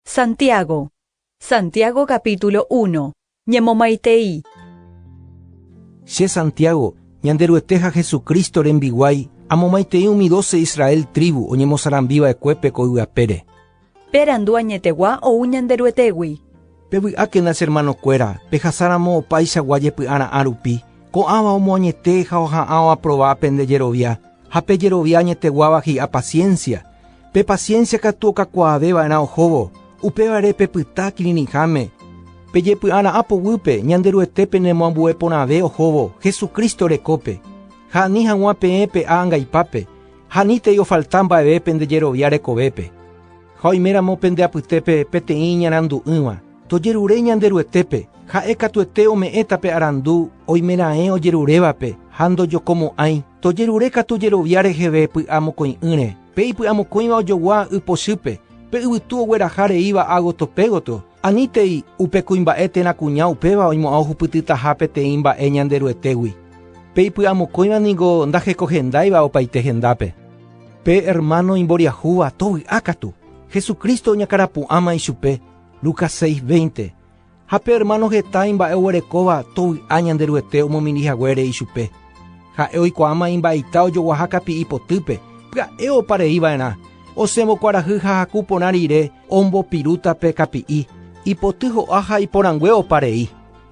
Santiago. Santiago capítulo uno. Ñemomaitei. Che Santiago, Ñanderuete ha Jesucristo rembiguái, amomaitei umi doce Israel tríbu oñemosarambiva'ekuépe ko yvapére. Perandu añetegua ou Ñanderuetégui. Pevy'ákena che ermanokuéra, pejasáramo opaichagua jepy'ara'ã rupi, ko'ãva omoañete ha oha'ãva aprova pende jerovia, ha pe jerovia añeteguáva hi'a paciencia. Pe paciencia katu okakuaave va'erã ohóvo, upévare pepyta kirirĩháme. Pe jepy'ara'ã poguýpe, Ñanderuete penemoambue porãve ohóvo Jesucristo rekópe, ha ani hag̃ua peẽ pe ángaipápe, ha anítei ofalta mba'eve pende jerovia rekovépe. Ha oiméramo pende apytépe peteĩ ñarandu'ỹva, tojerure Ñanderuetépe, ha'e katuete ome'ẽta pe arandu oime raẽ ojerurévape ha ndojokomo'ãi, tojerure katu jerovia reheve py'amokõi'ỹre, pe ipy'amokõiva ojogua y pochýpe, pe yvytu ogueraha reíva ágoto pégotro, Anítei upe kuimba'e térã kuña upéva oimo'ã ohupytytaha peteĩ mba'e Ñanderuetégui. Pe ipy'amokõiva ningo ndahekohendáiva opaite hendápe. Pe ermáno imboriahúva tovy'a katu, Jesucristo oñakarapu'ãma ichupe, Lucas 6, 20, ha pe ermáno heta imba'e oguerekóva tovy'a Ñanderuete omomiri haguére ichupe. Ha'e oikuaáma imba'eita ojoguaha kapi'i potýpe, pya'e opa rei va'erã, Osẽvo kuarahy ha haku porã rire ombopirúta pe kapi'i, ipoty ho'a ha iporãngue opa rei.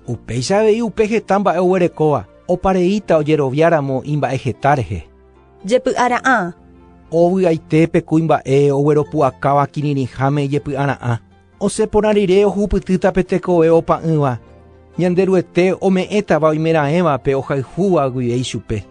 Upéicha avei upe heta mba'e oguerekóva opa reíta ojerovia ramo imba'e heta rehe. Jepy'ara'ã. Ovy'aite pe kuimba'e ogueropu'akáva kirirĩháme ijepy'ara'ã. Osẽ porã rire ohupytýta pe tekove opa'ỹva, Ñanderuete ome'ẽtava oimeraẽvape ohayhúva guive ichupe.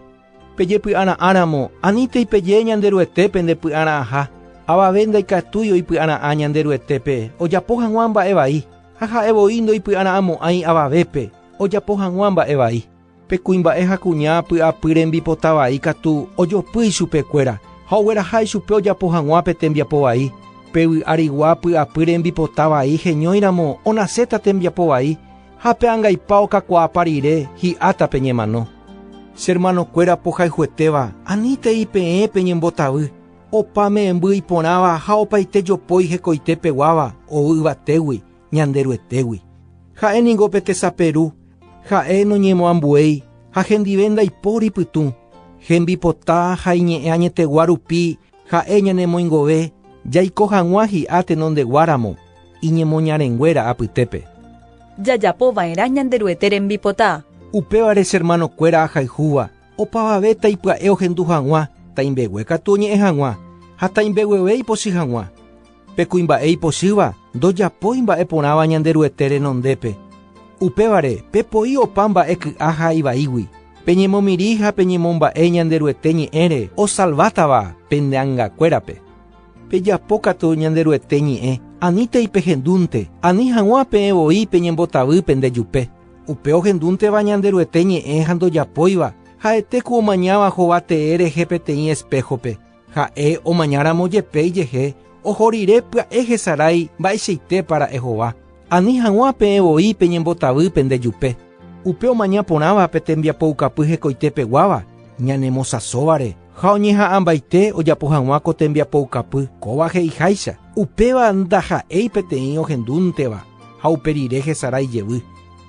Pejepy'ara'ãramo, anítei peje Ñanderuete pende py'ara'ãha, avave ndaikatúi oipy'ara'ã Ñanderuetépe ojapo hag̃ua mba'e vai, ha ha'e voi ndoipy'ara'ãmo'ãi avavépe ojapo hag̃ua mba'e vai. Pe kuimba'e ha kuña py'apy rembipota vai katu ojopy ichupe kuéra ha ogueraha ichupe ojapo hag̃ua pe tembiapo vai. Pe vy'arigua py'apy rembipota vai heñóiramo onaséta tembiapo vai. Ha pe angaipa okakuaápa rire, hi'áta pe ñemano. Che hermanokuéra pohayhuetéva, anítei peẽ pe ñembotavy, opa me'ẽmby iporãva ha opaite jopói hekoite peguáva ou yvatégui Ñanderuetégui. Ha'e ningo pe tesape Ru, Ha'e noñemoambuéi ha hendive ndaipóri pytũ, hembipota ha iñe'ẽ añetegua rupi Ha'e ñanemoingove jaiko hag̃ua hi'a tenondeguáramo iñemoñarenguéra apytépe. Jajapo va'erã Ñanderuete rembipota. Upévare che ermanokuéra ahayhúva opavave taipya'e ohendu hag̃ua taimbegue katu oñe'ẽ hag̃ua, ha taimbegueve ipochy hag̃ua. Pe kuimba'e ipochýva ndojapói mba'e porãva Ñanderuete renondépe. Upévare, pepoi opa mba'e ky'a ha ivaígui. Peñemomirĩ ha peñemomba'e Ñanderuete ñe'ẽre osalvátava pende angakuérape. Pejapo katu Ñanderuete ñe'ẽ, anítei pehendúnte, ani hag̃ua peẽ voi peñembotavy pende jupe. Upe ohendúnteva Ñanderuete ñe'ẽ ha ndojapóiva, ha'ete ku omañáva hova tee rehe peteĩ espéhope. Ha'e omañáramo jepe ijehe, oho rire pya'e hesarái mba'eichaitépa ra'e hova. Ani hag̃ua peẽ voi peñembotavy pende jupe. Upe omaña porãva pe tembiapoukapy hekoite peguáva ñanemosãsóvare ha oñeha'ãmbaite ojapo hag̃ua ko tembiapoukapy, kóva he'iháicha, upéva ndaha'éi peteĩ ohendúnteva ha upe rire hesarái jevy.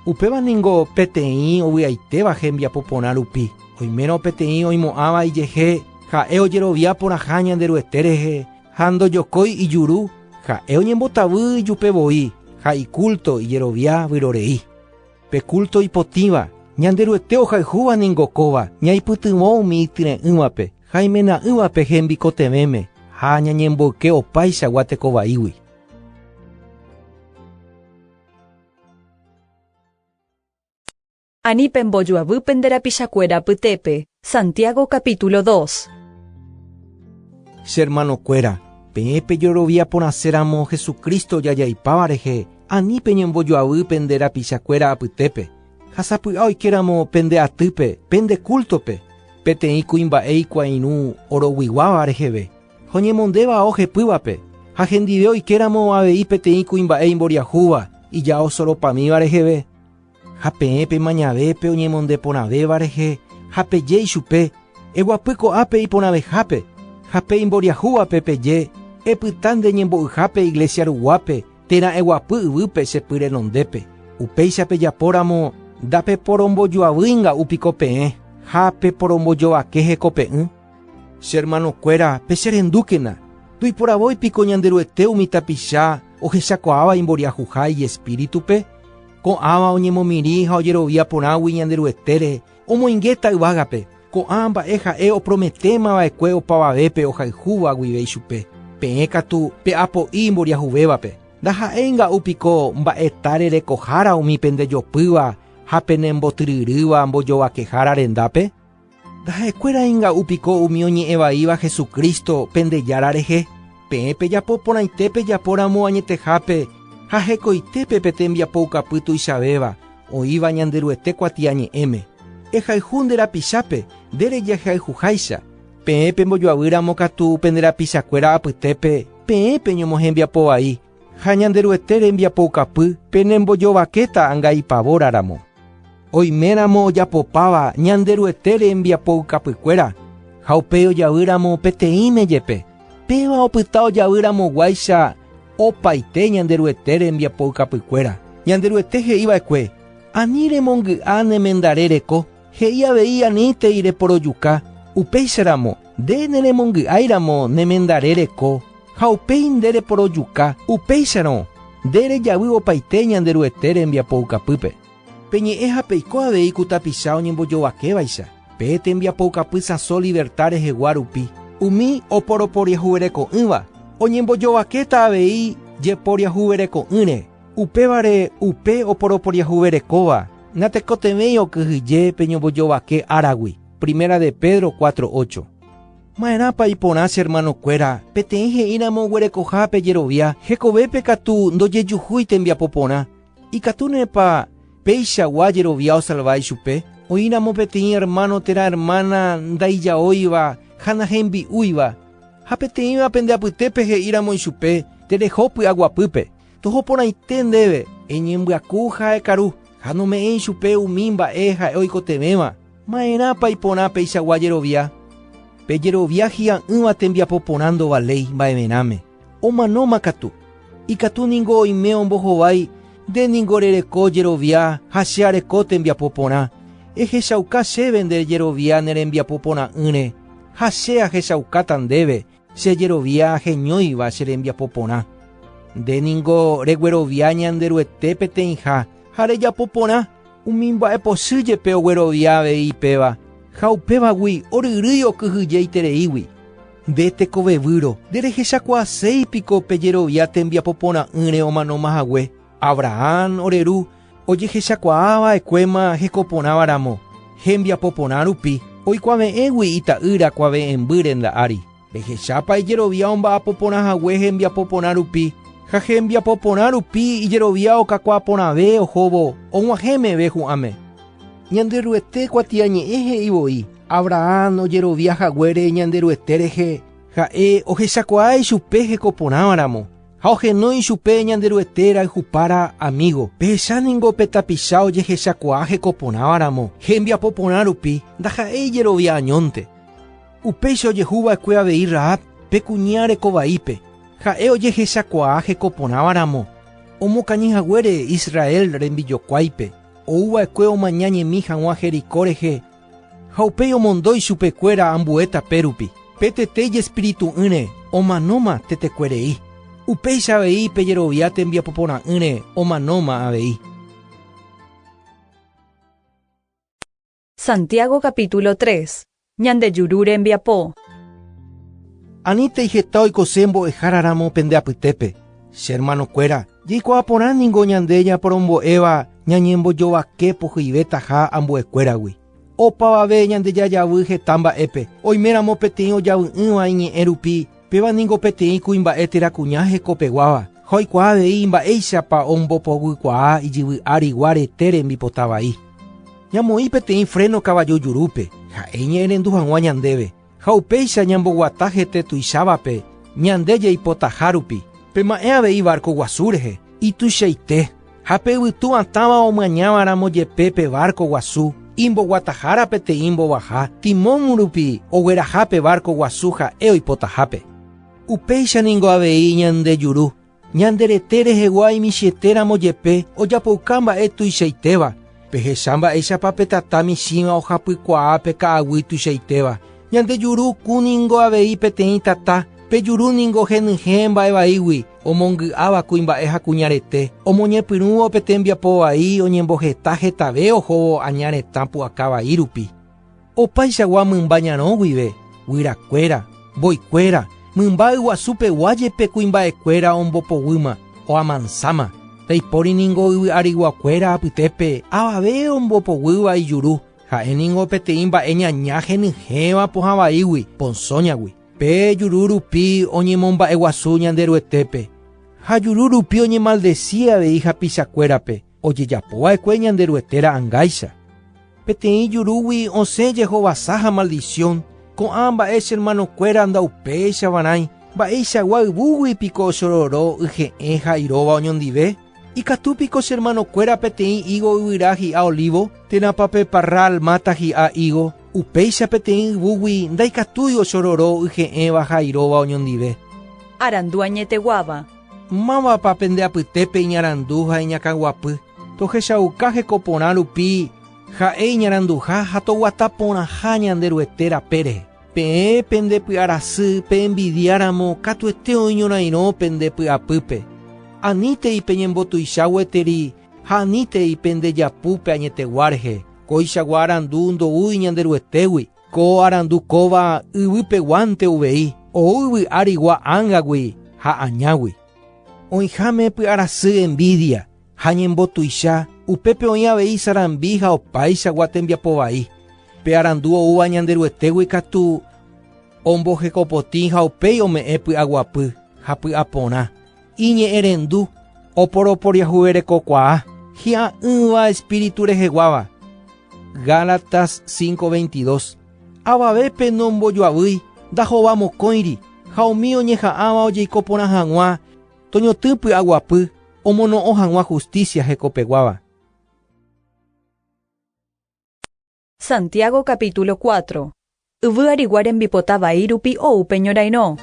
Upéva ningo peteĩ ovy'aitéva hembiapo porã rupi, oimérõ peteĩ oimo'ãva ijehe. Ha'e ojerovia porãha Ñanderuete rehe ha ndojokói ijuru, ha'e oñembotavy ijupe voi ha ikúlto ijerovia vyrorei. Pe kúlto ipotĩva Ñanderuete ohayhúva ningo kóva ñaipytyvõ umi ityre'ỹvape ha imena'ỹvape hembikotevẽme ha ñañemboyke opaichagua teko vaígui. Ani pembojoavy pende rapichakuéra apytépe. Santiago capítulo dos. Che hermanokuéra, peẽ pejorovia porãse ramo Jesucristo ojajaipáva rehe, ani peñembojoavy pende rapichakuéra apytépe. Ha sapy'a oike ramo pende atýpe, pende kultope, peteĩ kuimba'e ikuairũ oroguiguáva reheve, ha oñemonde vao hepývape, ha hendive oike ramo avei peteĩ kuimba'e imboriahúva ijao soropamíva reheve. Ha peẽ pemañave pe oñemonde porãvéva rehe ha peje ichupe, Eguapy ko'ápe iporãvehápe, ha pe imboriahúvape peje, Epyta nde ñembo'yhápe iglesia ruguápe térã eguapy yvýpe che py renondépe. Upéicha pejapóramo, ndapeporombojoavýi nga'u piko peẽ ha peporombojovake hekope'ỹ. Che hermanokuéra, pecherendúkena, Toiporavói piko Ñanderuete umi tapicha ohechakuaáva imboriahuha iespíritupe? Ko'ãva oñemomirĩ ha ojerovia porãgui Ñanderuetére, omoingéta yvágape. Ko'ã mba'e ha'e oprometéma va'ekue opavavépe ohayhúva guive ichupe. Peẽ katu pe'apo'i imboriahuvévape. Ndaha'éi nga'u piko mba'eta rerekohára umi pendejopýva ha penembotyryrýva mbojovakehára rendápe? Taha'ekuéra einga'u piko umi oñe'ẽ vaíva Jesucristo pende Jára rehe, peẽ pejapo porãite pejapo ramo añetehápe ha hekoite pe pe tembiapoukapy tuichavéva oĩva Ñanderuete kuatiañe'ẽme. Ehayhu nde rapichápe, nde rejehayhuháicha, peẽ pembojoavy ramo katu pende rapichakuéra apytépe peẽ peñomohembiapo vai, Ha Ñanderuete rembiapoukapy penembojovakéta anga ipavóraramo. Oiméramo ojapopáva Ñanderuete rembiapoukapykuéra, ha upéi ojavýramo peteĩme jepe, péva opyta ojavýramoguáicha opaite Ñanderuete rembiapoukapykuéra. Ñanderuete he'iva'ekue, Ani remongy'a ne mendare reko, He'i avei aníntei reporojuka, upéicha ramo, nde neremongy'ái ramo nemendare reko, ha upéi nde reporojuka, upéicharõ, nde rejavy opaite Ñanderuete rembiapoukapýpe. Pe ñe'ẽ ha peiko avei ku tapicha oñembojovakévaicha, pe tembiapoukapy sãso liverta rehegua rupi, umi oporoporiahuvereko'ỹva oñembojovakéta avei jeporiahuvereko'ỹre, Upévare upe oporoporiahuverekóva natekotevẽi okyhyje pe ñombojovake áragui. Primera de Pedro cuatro ocho. Ma'erãpa iporã che hermanokuéra peteĩ he'íramo oguerekoha pe jerovia hekovépe katu ndojejuhúi tembiapo porã? Ikatúnepa peichagua jerovia osalva ichupe? Oĩramo peteĩ hermano térã hermana ndaijaóiva ha nahembi'úiva, ha peteĩva pende apytépe he'íramo ichupe, Tereho py'aguapýpe. Toho porãite ndéve, eñembyaku ha ekaru, ha nome'ẽ ichupe umi mba'e ha'e oikotevẽva. Ma'erãpa iporã peichagua jerovia? Pe jerovia hi'a'ỹva tembiapo porã ndovaléi mba'everãme, omanóma katu. Ikatu ningo oime ombohovái, nde ningo rereko jerovia ha che areko tembiapo porã. Ehechauka chéve nde jerovia ne rembiapo porã'ỹre, ha che ahechaukáta ndéve. Chejerovia heñóiva che rembiapo porã. Nde ningo reguerovia Ñanderuete peteĩha ha rejapo porã. Umi mba'epochy jepe oguerovia avei péva, ha upévagui oryrýi okyhyjeitereígui. Nde tekovevýro, nderehechakuaaséi piko pejerovia tembiapo porã'ỹre omanóma hague? Abrahán ore ru ojehechakuaa va'ekuéma heko porãva ramo, hembiapo porã rupi, oikuave'ẽgui ita'ýra kuave'ẽmby renda ári. Pehechápa ijerovia omba'apo porã hague hembiapo porã rupi, ha hembiapo porã rupi ijerovia okakuaa porãve ohóvo og̃uahẽ meve hu'ãme. Ñanderuete kuatiañe'ẽ he'i voi Abrahán ojerovia haguére Ñanderuete rehe, Ha'e ohechakuaa ichupe heko porãva ramo, Ha ohenói ichupe Ñanderuete rayhupára amígo. Pehecha ningo pe tapicha ojehechakuaa heko porãva ramo, hembiapo porã rupi, ndaha'éi ijerovia añónte. Upéicha ojehu va'ekue avei Rahab, pe kuña reko vaípe. Ha'e ojehechakuaa heko porãva ramo, omokañy haguére Israel rembijokuáipe, ou va'ekue omaña ñemi haguã Jericó rehe Ha upéi omondo ichupekuéra ambue tape rupi. Pe tete ijespiritu'ỹre omanóma tetekuerei, upéicha avei pe jerovia tembiapoporã'ỹre omanóma avei. Santiago capítulo 3. Ñande juru rembiapo. Anítei heta oikose mbo'ehára ramo pende apytépe, che hermanokuéra. Jaikuaa porã ningo ñande ñaporombo'éva Ñañembojovake pohyivétaha ambuekuéragui. Opavave ñande jajavy heta mba'épe, oiméramo peteĩ ojavy'ỹva iñe'ẽ rupi, péva ningo peteĩ kuimba'e térã kuña hekopeguáva, ha oikuaa avei mba'éichapa ombopoguikuaa ijyvy árigua rete rembipota vai. Ñamoĩ peteĩ fréno kavaju jurúpe, ha'e iñe'ẽrendu hag̃ua ñandéve. ha upéicha ñamboguata hete tuichávape ñande jaipotaha rupi. Pema'ẽ avei várko guasu rehe, ituichaite, ha pe yvytu atãva omañáva ramo jepe pe várko guasu, imboguatahára peteĩ mbovaha timón rupi ogueraha pe várko guasu ha'e oipotahápe. Upéicha ningo avei ñande juru. Ñande rete rehegua imichĩetéramo jepe ojapouka mba'e tuichaitéva, pehecha mba'éichapa pe tata michĩva ohapykuaa pe ka'aguy tuichaitéva. Ñande juru kũ ningo avei peteĩ tata, pe juru ningo henyhẽ mba'e vaígui, omongy'áva kuimba'e ha kuñarete, omoñepyrũvo pe tembiapo vai oñemboheta hetave ohóvo aña retã pu'aka vai rupi. Opaichagua mymba ñarõ guive, guyrakuéra, mboykuéra, mymba yguasu pegua jepe kuimba'ekuéra ombopoguýma, oamansáma. Peipóri ningo yvy ariguakuéra apytépe avave ombopoguýva ijuru, ha'e ningo peteĩ mba'e ñaña henyhẽva pohã vaígui, ponsoñagui. Pe juru rupi oñemomba'eguasu Ñanderuetépe, ha juru rupi oñemaldesi avei hapichakuérape. Ojejapo va'ekue Ñanderuete ra'ãngáicha. Peteĩ jurúgui osẽ jehovasa ha maldición, ko'ã mba'e che hermanokuéra ndaupéichavarãi, mba'eichagua yvúgui piko ochororo yje'ẽ ha iróva oñondive? Ikatu piko che hermanokuéra peteĩ higo yvyra hi'a olivo? Térãpa pe parral máta hi'a higo, upéicha peteĩ yvúgui ndaikatúi ochororo yje'ẽva ha iróva oñondive? Arandu añeteguáva, Mávapa pende apytépe iñarandu ha iñakãguapy? Tohechauka heko porã rupi ha'e iñaranduha ha toguata porãha Ñanderuete rape rehe. Peẽ pende py'arasy pe'envidiáramo katuete oñorairõ pende py'apýpe. Anítei peñembotuicha gueteri ha anítei pende japu pe añetegua rehe, kóichagua arandu ndoúi Ñanderuetégui. Ko arandu kóva yvypeguánte uvei ou yvy árigua ángagui ha añágui. Oĩháme py'arasy envídia ha ñembotuicha, upépe oĩ avei sarambi ha opaichagua tembiapo vai. Pe arandu oúva Ñanderuetégui katu ombohekopotĩ ha upéi ome'ẽ py'aguapy ha py'aporã. Iñe'ẽrendu oporoporiahuverekokuaa hi'a'ỹva espíritu reheguáva. Gálatas 5:22. Avavépe nombojoavýi ndajova mokõiri ha umi oñeha'ãva ojeiko porã hag̃ua toñotỹ py'aguapy omono'õ hag̃ua hustísia hekopeguáva. Santiago capítulo cuatro. Yvy arigua rembipota vai rupi ou pe ñorairõ.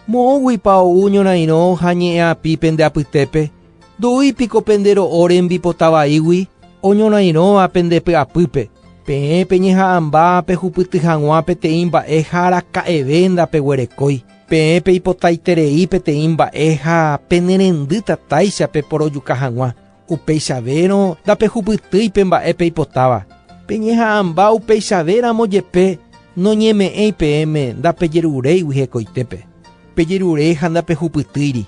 Moõguipa ou ñorairõ ha ñe'ẽapi pende apytépe? Ndoúi piko pende ro'o rembipota vaígui oñorairõva pende py'apýpe? Peẽ peñeha'ãmba pehupyty hag̃ua peteĩ mba'e ha araka'eve ndapeguerekói. Peẽ peipotaiterei peteĩ mba'e ha penerendy tatáicha peporojuka hag̃ua. Upeichavérõ ndapehupytýi pe mba'e peipotáva. Peñeha'ãmba upeichave ramo jepe, noñeme'ẽi peẽme ndapejeruréigui hekoitépe. Pejerure ha ndapehupytýiri,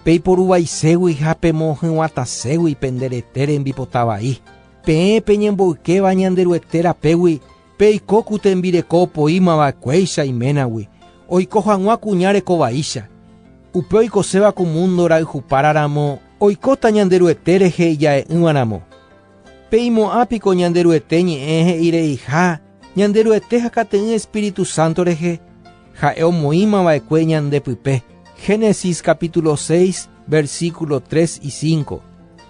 peiporuvaiségui ha pemohyg̃uatãségui pende rete rembipota vai, peẽ peñemboykéva Ñanderuete rapégui, Peiko ku tembireko opoíma va'ekuéicha iménagui, oiko hag̃ua kuña reko vaícha. Upe oikoséva ku múndo rayhupára ramo oikóta Ñanderuete rehe ija'e'ỹva ramo. Peimo'ã piko Ñanderuete ñe'ẽ he'ireiha Ñanderuete ha kateĩ Espíritu Santo rehe, ha'e omoĩma va'ekue ñande pype. Génesis capítulo 6, versículo 3 y 5.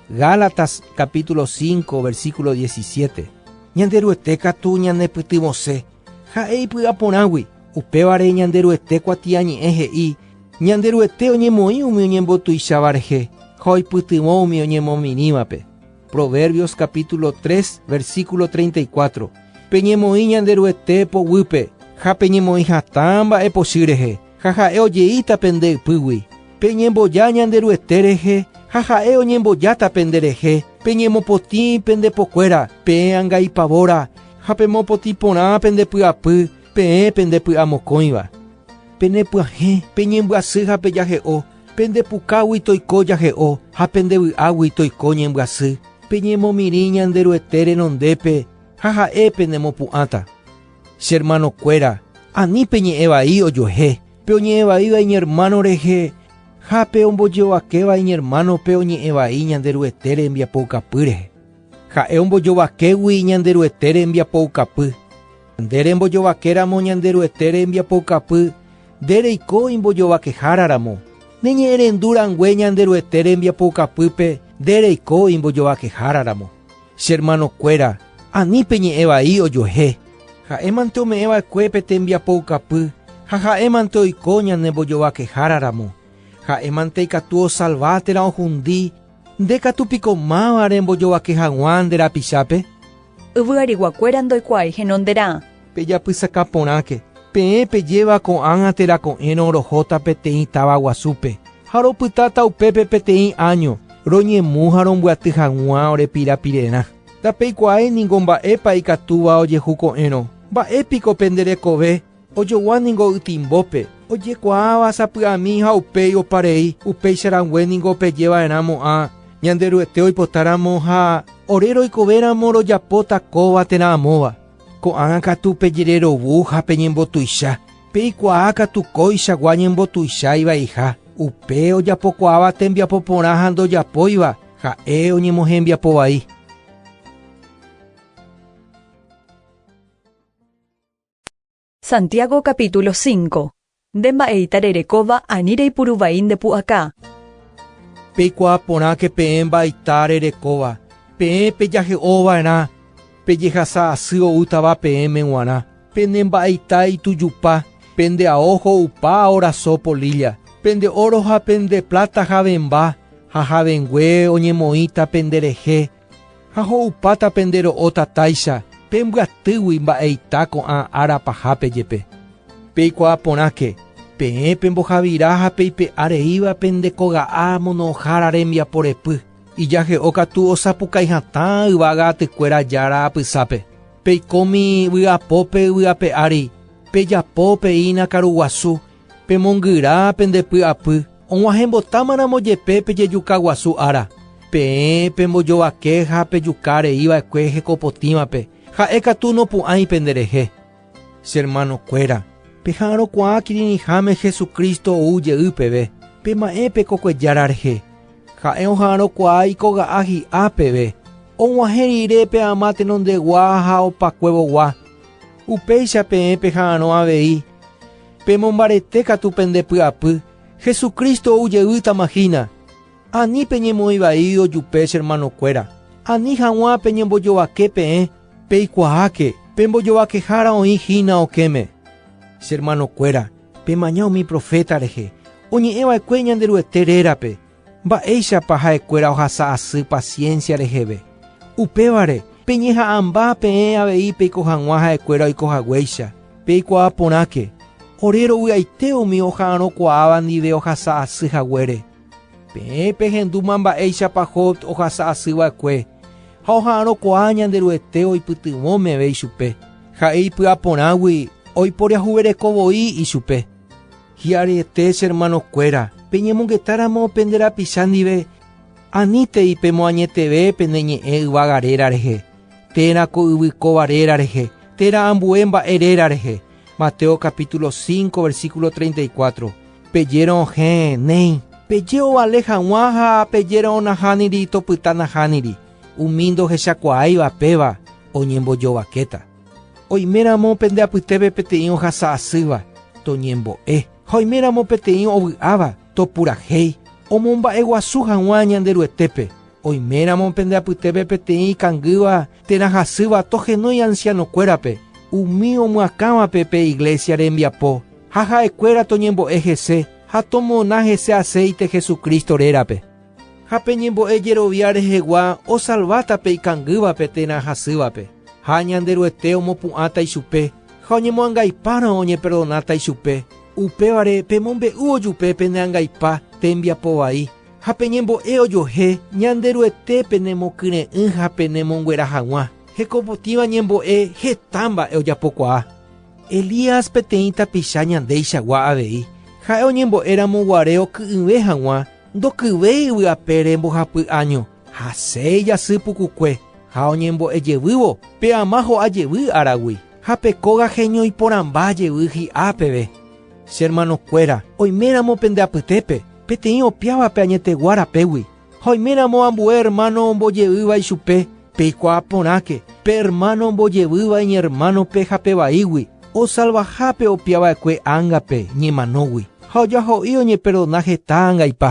Gálatas capítulo 5, versículo 17. Ñanderuete katu ñanepytyvõse ha'e ipy'a porãgui. Upévare Ñanderuete kuatiañe'ẽ he'i, Ñanderuete oñemoĩ umi oñembotuicháva rehe ha oipytyvõ umi oñemomirĩvape. Proverbios capítulo 3, versículo 34. Peñemoĩ Ñanderuete poguýpe ha peñemoĩ hatã mba'epochy rehe. Ha ha'e ojeíta pende ypýgui, Peñemboja Ñanderuete rehe, ha ha'e oñembojáta penderehe, peñemopotĩ pende pokuéra, peẽ anga ipavóra, ha pemopotĩ porã pende py'apy, peẽ pende py'amokõiva. Penepyahẽ, peñembyasy ha pejahe'o, pende pukágui toiko jahe'o, ha pende vy'águi toiko ñembyasy, peñemomirĩ Ñanderuete renondépe, ha ha'e penemopu'ãta. Che hermanokuéra, ani peñe'ẽ vai ojuehe pe oñe'ẽ vaíva iñermáno rehe ha pe ombojovakéva iñermánope oñe'ẽ vai Ñanderuete rembiapoukapy rehe. Ha'e ombojovakégui Ñanderuete rembiapoukapy. Nde rembojovakéramo Ñanderuete rembiapoukapy, nde reiko imbojovakehára ramo. Neñe'ẽrendu rangue Ñanderuete rembiapoukapýpe nde reiko imbojovakehára ramo. Che hermanokuéra, ani peñe'ẽ vai ojuehe. Ha'émante ome'ẽ va'ekue pe tembiapoukapy ha ha'émante oiko ñane mbojovakehára ramo. Ha'émante ikatu osalva térã ohundi, nde katu piko máva rembojovake haguã nde rapichápe? Yvyariguakuéra ndoikuaái henonderã. Pejapysaka porãke, peẽ pejéva ko'ág̃a térã ko'ẽrõ rohóta peteĩ táva guasúpe, ha ropytáta upépe peteĩ áño, roñemu ha rombyaty haguã ore pirapirerã. Ndapeikuaái ningo mba'épa ikatúva ojehu ko'ẽrõ. Mba'e piko pende rekove ojogua ningo ytimbópe, ojekuaáva sapy'ami ha upéi opa rei, upéicha rangue ningo pejeva'erã mo'ã Ñanderuete oipotáramo ha ore roikovéramo rojapóta kóva térã amóva. Ko'ág̃a katu pejererovu ha peñembotuicha, peikuaa katu kóichagua ñembotuicha ivaiha. Upe ojapokuaáva tembiapo porã ha ndojapóiva, ha'e oñemohembiapo vai. Santiago capítulo 5 Nde mba'eita rerekóva ani reipuru vai nde pu'aka. Peikuaa porãke peẽ mba'eita rerekóva, peẽ pejahe'o va'erã pe jehasa asy oútava peẽme guarã. Pene mba'eita itujupa, pende ao ho'upa oraso polilla, pende oro ha pende plata javemba ha javengue oñemoĩta pende rehe, Ha ho'upáta pende ro'o tatáicha pe mbyatýgui mba'eita ko'ã ára pahápe jepe. Peikuaa porãke, peẽ pembohavira ha peipe'a reíva pende koga'a monohára rembiapo repy, ijahe'o katu osapukái hatã yvága atykuéra Jára apysápe. Peikómi vy'apópe yvy ape ári, pejapo peína karuguasu Pemongyra pende py'apy, og̃uahẽmbotámaramo jepe pe jejuka guasu ára, peẽ pembojovake ha pejuka rei va'ekue hekopotĩvape, ha'e katu nopu'ãi pende rehe. Che hermano kuéra, peha'arõkuaa kirirĩháme Jesucristo ou jey peve, pema'ẽ pe kokue Jára rehe. Ha'e oha'arõkuaa ikoga'a hi'a peve, og̃uahẽ rire pe ama tenondegua ha opakuevogua. Upéicha peẽ peha'arõ avei. Pemombarete katu pende py'apy, Jesucristo ou jeýtama hína. Ani peñemoĩ vai ojupe che hermanokuéra. Ani haguã peñembojovake peẽ, peikuaáke, pe mbojovakehára oĩ hína okẽme. Che hermanokuéra, pemaña umi proféta rehe, oñe'ẽ va'ekue Ñanderuete rérape, Mba'éichapa ha'ekuéra ohasa asy paciencia reheve? Upévare, peñeha'ãmba peẽ avei peiko hag̃ua ha'ekuéra oiko haguéicha. Peikuaa porãke, ore rovy'aite umi oha'arõkuaáva ndive ohasa asy haguére. Peẽ pehendúma mba'éichapa Job ohasa asy va'ekue, ha oha'arõkuaa Ñanderuete oipytyvõ meve ichupe, ha'e ipy'aporãgui oiporiahuvereko voi ichupe. Hi'ariete, che hermanokuéra, peñemongetáramo pende rapicha ndive, anítei pemoañeteve pende ñe'ẽ yvága réra rehe, térã ko yvy kóva réra rehe, térã ambue mba'e réra rehe. Mateo capítulo 5, versículo 34. Pejérõ hẽ, néi, peje ovale hag̃ua ha pejérõ nahániri topyta nahániri, umi ndohechakuaáiva péva oñembojovakéta. Oiméramo pende apytépe peteĩ ohasa asýva, toñembo'e. Ha oiméramo peteĩ ovy'áva, topurahéi. Omomba'eguasu hag̃ua Ñanderuetépe. Oiméramo pende apytépe peteĩ ikangýva térã hasýva tohenói ansianokuérape, umi omyakãvape pe iglésia rembiapo, ha ha'ekuéra toñembo'e hese ha tomona hese aséite Jesucristo rérape. Ha pe ñembo'e jerovia rehegua osalváta pe ikangývape térã hasývape, ha Ñanderuete omopu'ãta ichupe ha oñemoangaipárõ oñeperdonáta ichupe, upévare pemombe'úvo jupe pene angaipa tembiapo vai, ha pe ñembo'e ojohe Ñanderuete penemokyre'ỹ ha penemonguera haguã, hekopotĩva ñembo'e heta mba'e ojapokuaa. Elías peteĩ tapicha ñandéichagua avei, ha'e oñembo'éramo guare oky'ỹve haguã, Ndokyvéi yvy apére mbohapy áño, hasẽ ijasy pukukue ha oñembo'e jevývo pe ama ho'a jevy áragui, ha pe kóga heñoiporãmba jevy hi'a peve. Che hermano kuéra, oiméramo pende apytépe, peteĩ opiávape añetegua rapégui, ha oiméramo ambue hermano ombojeýva ichupe, Peikuaa porãke, pe ermáno ombojevýva iñermánope ha pe vaígui, osalvaha pe opia va'ekue ángape ñemanógui, ha ojaho'i oñeperdona heta angaipa.